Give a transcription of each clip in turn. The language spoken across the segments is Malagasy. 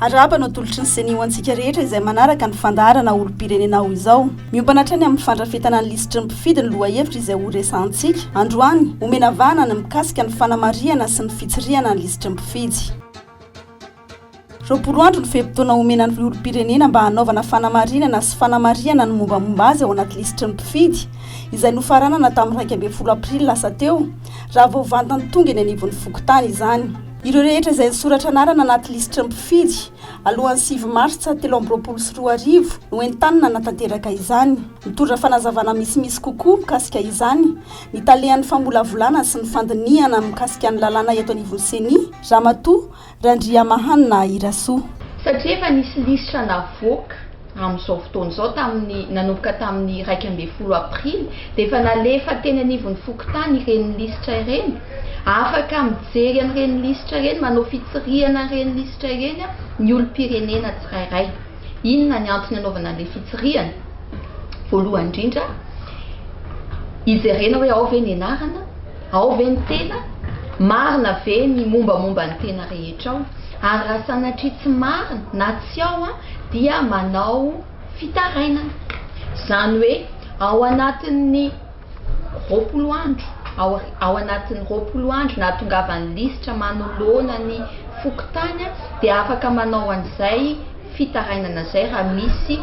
Arahaba ny atolotry ny Ceni ho antsika rehetra izay manaraka ny fandaharana olom-pirenena ao izao. Miompana hatrany amin'ny fandrafetana ny lisitry ny mpifidy ny lohahevitra izay horesahantsika androany. Omena vahana ny mikasika ny fanamarihana sy ny fitsirihana ny lisitry ny mpifidy. Roapolo andro ny fe-potoana omena ny olom-pirenena mba hanaovana fanamarinana sy fanamarihana ny mombamomba azy ao anaty lisitry ny mpifidy, izay nofaranana tamin'ny iraika ambin'ny folo aprily lasa teo, raha vao vantany tonga eny anivon'ny fokontany izany. Ireo rehetra izay nisoratra anarana anaty lisitry ny mpifidy alohan'ny sivy martsa telo amby roapolo sy roa arivo no entanina hanatanteraka izany. Mitondra fanazavana misimisy kokoa mikasika izany ny talehan'ny famolavolana sy ny fandinihana mikasika ny lalàna eto anivon'ny Ceni, Ramatoa Randriamahanina Irasoa. Satria efa nisy lisitra navoaka. Amin'izao fotoana izao, tamin'ny nanomboka tamin'ny iraika ambin'ny folo aprily, dia efa nalefa teny anivon'ny fokontany ireny lisitra ireny. Afaka mijery an'ireny lisitra ireny, manao fitsirihana an'ireny lisitra ireny ny olom-pirenena tsirairay. Inona ny antony anaovana an'ilay fitsirihana? Voalohany indrindra, hijerena hoe ao ve ny anarana? Ao ve ny tena? Marina ve ny mombamomba ny tena rehetra ao? Ary raha sanatria tsy marina na tsy ao, dia manao fitarainana, izany hoe ao anatin'ny roapolo andro, ao, ao anatin'ny roapolo andro nahatongavan'ny lisitra manoloana ny fokontany dia afaka manao an'izay fitarainana izay raha misy,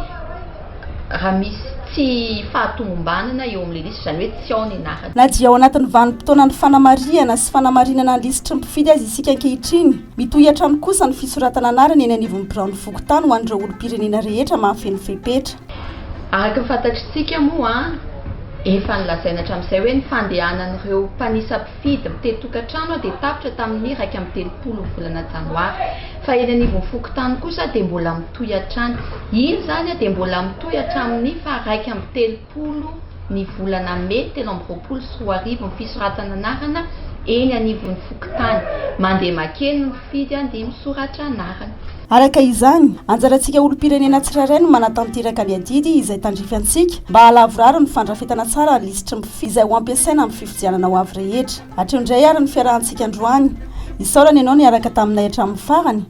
raha misy tsy fahatomombanana eo amin'ilay lisitra, izany hoe tsy ao ny anarany. Na dia ao anatin'ny vanim-potoanan'ny fanamarihana sy fanamarinana ny lisitry ny mpifidy aza isika ankehitriny, Mitohy hatrany kosa ny fisoratana anarana eny anivon'ny biraon'ny fokontany ho an'ireo olom-pirenena rehetra mahafeno fepetra. Araka ny fantatritsika moa, efa nolazaina hatramin'izay hoe ny fandehanan'ireo mpanisa mpifidy mitety tokantrano dia tapitra tamin'ny iraika amby telopolo volana janoary. Fa eny anivon'ny fokontany kosa dia mbola mitohy hatrany. Iny izany dia mbola mitohy hatramin'ny faha iraika amby telopolo. folo ny volana mey telo amby roapolo sy roa arivo ny fisoratana anarana eny anivon'ny fokontany. Mandeha makeny ny mpifidy handeha misoratra anarana. Araka izany, anjarantsika olom-pirenena tsirairay no manatanteraka ny adidy izay tandrify antsika mba hahalavorary ny fandrafetana tsara ny lisitry ny mpifidy izay ho ampiasaina amin'ny fifidianana ho avy rehetra. Hatreo indray ary ny fiarahantsika androany. Isaorana ianao niaraka taminay hatramin'ny farany.